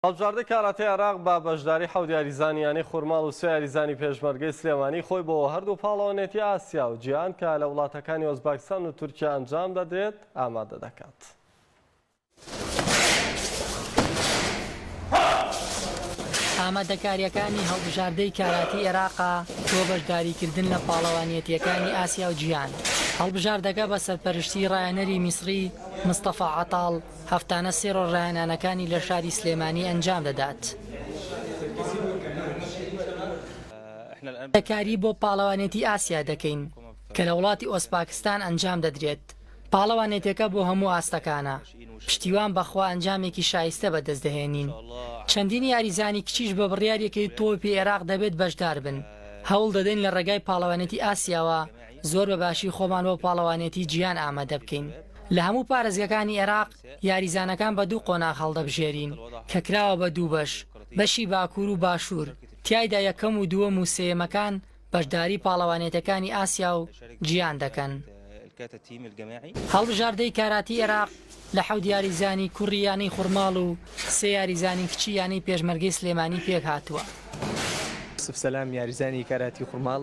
هەڵبژاردەی کاراتێی عێراق بە بەشداری حەوت یاریزانی یانەی خورماڵ و سێ یاریزانی پێشمەرگەی سلێمانی خۆی بۆ هەردوو پاڵەوانێتی ئاسیا و جیهان کە لە وڵاتەکانی ئۆزباکستان و تورکیا ئەنجام دەدرێت ئامادە دەکات. ئامادەکارییەکانی هەڵبژاردەی کاراتی عێراقە بۆ بەشداریکردن لە پاڵەوانیەتییەکانی ئاسیا و جیهان. هەڵبژاردەکە بە سەرپەرشتیی ڕایەنەری میسڕی مستەفا عەتاڵ، هەفتانە سێ ڕۆژ ڕایانانەکانی لە شاری سلێمانی ئەنجام دەدات. وردەکاری بۆ پاڵەوانێتی ئاسیا دەکەین کە لە وڵاتی ئۆزپاکستان ئەنجام دەدرێت، پاڵەوانێتەکە بۆ هەموو ئاستەکانە، پشتیوان بە خوا ئەنجامێکی شایستە بەدەست دەهێنین، چەندین یاریزانی کچیش بە بڕیار یەکەی تۆپی عێراق دەبێت بەشدار بن، هەوڵ دەدەین لە ڕێگای پاڵەوانێتی ئاسیاوە زۆر بە باشی خۆمان بۆ پاڵەوانێتی جیهان ئامادە بکەین. لە هەموو پارێزگەکانی ئێراق یاریزانەکان بە دوو قۆناغ هەڵدەبژێرین، کە کراوە بە دوو بەش، بەشی باکوور و باشوور، تیایدا یەکەم و دووەم و سێیەمەکان بەشداری پاڵەوانێتەکانی ئاسیا و جیهان دەکەن. هەڵبژاردەی کاراتی ئێراق لە حەوت یاریزانی کوڕی یانەی خورماڵ و سێ یاریزانی کچی یانەی پێشمەرگەی سلێمانی پێکهاتووە. یوسف سەلام یاریزانی کاراتی خورماڵ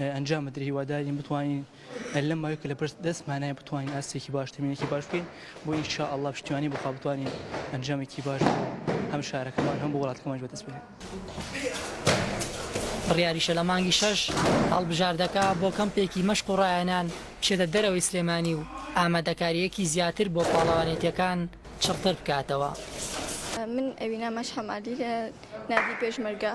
ئەنجامەدرێت هیوادارین بتوانین لەم ماوەی کە لە بەرز دەستمانایە بتوانین ئاستێکی باش تەمینێکی باش بکەین بۆ ان شاء الله پشتیوانی بخوا بتوانین ئەنجامێکی باش هەم شارەکەمان هەم بۆ وڵاتەکەمانش بەدەست بێنین. بڕیاریشە لە مانگی شەش هەڵبژاردەکە بۆ کەمپێکی مەشق و ڕایانان بچێتە دەرەوەی سلێمانی و ئامادەکارییەکی زیاتر بۆ پاڵەوانێتییەکان چڕتر بکاتەوە. من ئەوینا مەشحەمالی لە نادی پێشمەرگە.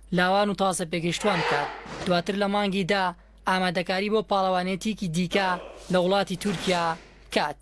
لاوان و تازە پێگەیشتوان بکات، دواتر لە مانگی دا ئامادەکاری بۆ پاڵەوانێتییەکی دیکە لە وڵاتی تورکیا بکات.